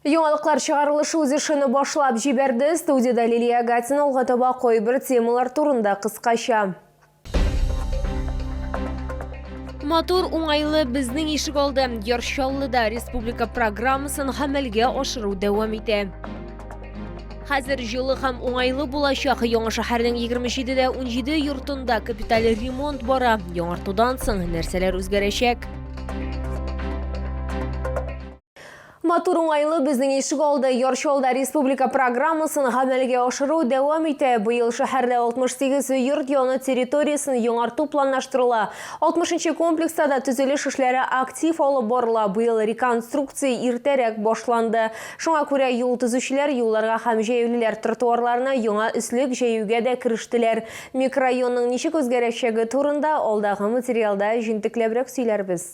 Яңалыклар чыгарылышы үз эшене башлап җибәрде. Студиядә Лилия Гатина алга таба кайбер темалар турында кыскача. Матур, уңайлы безнең ишек алды. Яр Чаллыда республика программасын гамәлгә ашыру дәвам итә. Хәзер җылы һәм уңайлы булачак яңа шәһәрнең 27 дә 17 йортында капиталь ремонт бара. Яңартудан соң нәрсәләр үзгәрәчәк? Матур уңайлы безнең ишек алды Ярчалда республика программасын гамәлгә ашыру дәвам итә. Быел шәһәрдә 68 йорт яны территориясен яңарту планлаштырыла. 60 комплекста да төзелеш эшләре актив алып барыла. Быел реконструкция иртәрәк башланды. Шуңа күрә юл төзүчеләр юлларга һәм җәяүлеләр тротуарларына яңа өслек җәюгә дә керештеләр. Микрорайонның ничек үзгәрәчәге турында алдагы материалда җентекләбрәк сөйләрбез.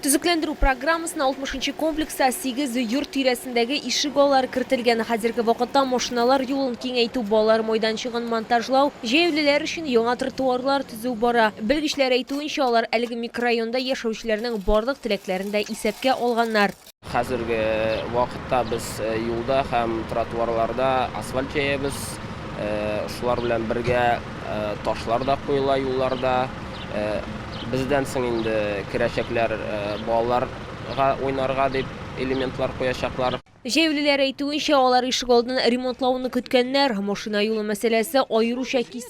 Төзекләндерү программасына 60-нчы комплекста 8 йорт тирәсендәге ишек аллары кертелгән. Хәзерге вакытта машиналар юлын киңәйтү, балалар майданчыгын монтажлау, җәяүлеләр өчен яңа тротуарлар төзү бара. Белгечләр әйтүенчә, алар әлеге микрорайонда яшәүчеләрнең барлык теләкләрен дә исәпкә алганнар. Хәзерге вакытта без юлда һәм тротуарларда асфальт җәябез. Шулар белән бергә ташлар да куела юлларда. Бездән соң инде керәчәкләр балаларга уйнарга дип элементлар куячаклар. Җәяүлеләр әйтүенчә, алар ишегалдын ремонтлауны көткәннәр. Машина юлы мәсьәләсе аеруча кискен.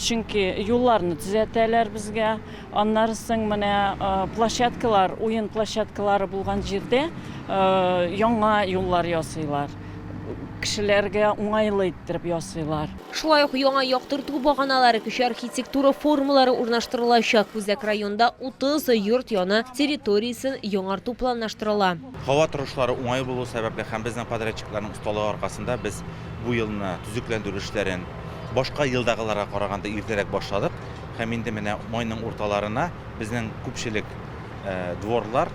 Чөнки юлларны төзәтәләр безгә. Аннары соң менә площадкалар, уен площадкалары булган җирдә яңа юллар ясыйлар. Кешеләргә уңайлы иттереп ясыйлар. Шулай ук яңа яктырту баганалары, кече архитектура формалары урнаштырылачак. Үзәк районда 30 йорт яны территориясен яңарту планлаштырыла. Һава торышлары уңай булу сәбәпле һәм безнең подрядчикларның осталыгы аркасында без бу елны төзекләндерү эшләрен башка елдагыларга караганда иртәрәк башладык һәм инде менә майның урталарына безнең күпчелек дворлар,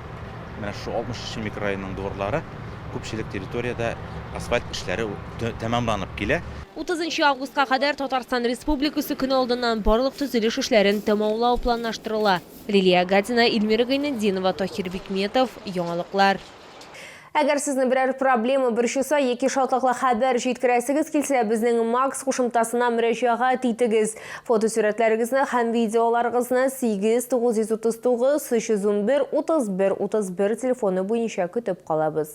менә шушы 63 нче микрорайонның дворлары, күпчелек территориядә асфальт эшләре тәмамланып килә. 30 нчы августка кадәр Татарстан Республикасы көне алдыннан барлык төзелеш эшләрен тәмамлау планлаштырыла. Лилия Гатина, Ильмира Гайнетдинова, Таһир Бикметов, Яңалыклар. Әгәр сезне берәр проблема борчыса яки шатлыклы хәбәр җиткерәсегез килсә, безнең Макс кушымтасына мөрәҗәгать итегез. Фотосурәтләрегезне һәм видеоларыгызны 8 939 311 31 31 телефоны буенча көтеп калабыз.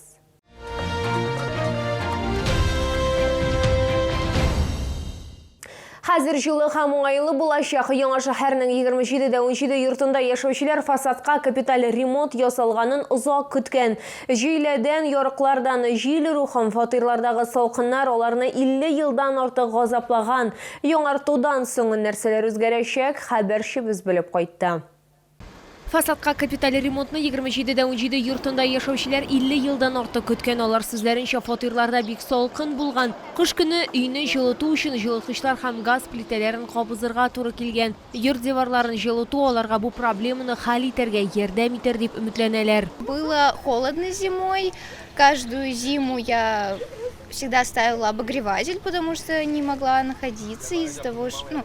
Хәзер җылы һәм уңайлы булачак. Яңа шәһәрнең 27 дә 17 йортында яшәүчеләр фасадка капиталь ремонт ясалганын озак көткән. Җөйләдән, ярыклардан җил рухым, фатирлардагы салкыннар аларны 50 елдан артык газаплаган. Яңартудан соң нәрсәләр үзгәрәчәк, хәбәрчебез белеп кайтты. Фасадка капиталь ремонтны егерме җиде дә унҗиде йортында яшәүчеләр илле елдан артык көткән. Алар сүзләренчә, фатирларда бик салкын булган. Кыш көне өйне җылыту өчен җылыткычлар һәм газ плитәләрен кабызырга туры килгән. Йорт диварларын җылыту аларга бу проблеманы хәл итәргә ярдәм итәр дип өметләнәләр. Было холодно зимой, каждую зиму я всегда ставила обогреватель, потому что не могла находиться из-за того, что, ну,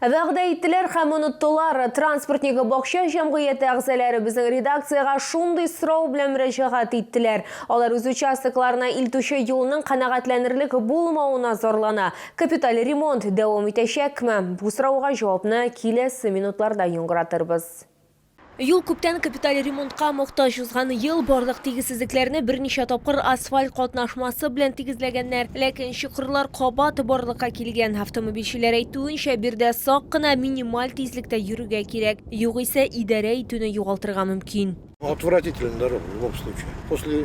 Вәгъдә иттеләр һәм оныттылар. Транспортнигы бакча җәмгыяте әгъзаләре безнең редакциягә шундый сорау белән мөрәҗәгать иттеләр. Алар үз участокларына илтүче юлның канәгатьләнерлек булмавына зарлана. Капиталь ремонт дәвам итәчәкме? Бу сорауга җавапны киләсе минутларда яңгыратырбыз. Юл күптән капиталь ремонтка мохтаҗ. Узган ел барлык тигезсезлекләрне берничә тапкыр асфальт катнашмасы белән тигезләгәннәр. Ләкин чокырлар кабат барлыкка килгән. Автомобильчеләр әйтүенчә, биредә сак кына, минималь тизлектә йөрергә кирәк. Югыйсә, идарә итүне югалтырга мөмкин. Отвратительно дорога, в любом случае. После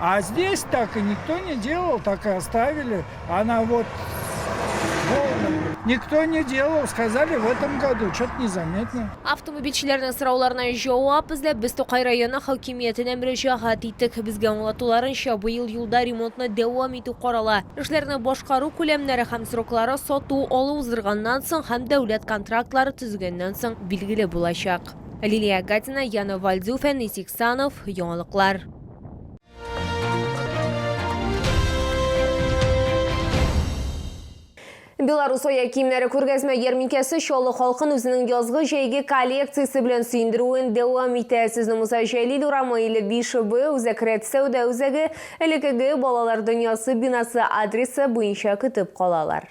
А здесь так и никто не делал, так и оставили. Она вот Никто не делал, сказали в этом году, что-то незаметно. Автомобильчеләрнең сорауларына җавап эзләп без Тукай районы хакимиятенә мөрәҗәгать иттек. Безгә аңлатуларынча, быел юлда ремонтны дәвам итү карала. Эшләрне башкару күләмнәре һәм сроклары сату алу уздырганнан соң һәм дәүләт контрактлары төзегәннән соң билгеле булачак. Лилия Гатина, Яна Вальдюфен, Исик Санов, яңалыклар. Беларус оя киемнәре күргәзмә ярминкәсе Чаллы халкын үзенең язгы җәйге коллекциясе белән сөендерүен дәвам итә. Сезне Муса Җәлил урамы или Бишебы үзәк рәт сәүдә үзәге элекеге балалар дөньясы бинасы адресы буенча көтеп калалар.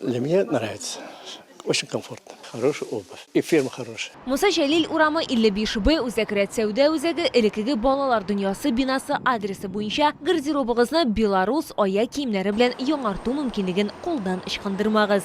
Для меня нравится. Очень комфортно. Хорошая обувь. И фирма хорошая. Муса Җәлил урамы, 55 Б, Үзәк рәт сәүдә үзәге, элеккеге Балалар дөньясы бинасы адресы буенча гардеробыгызны Беларус аяк киемнәре белән яңарту мөмкинлеген кулдан ычкындырмагыз.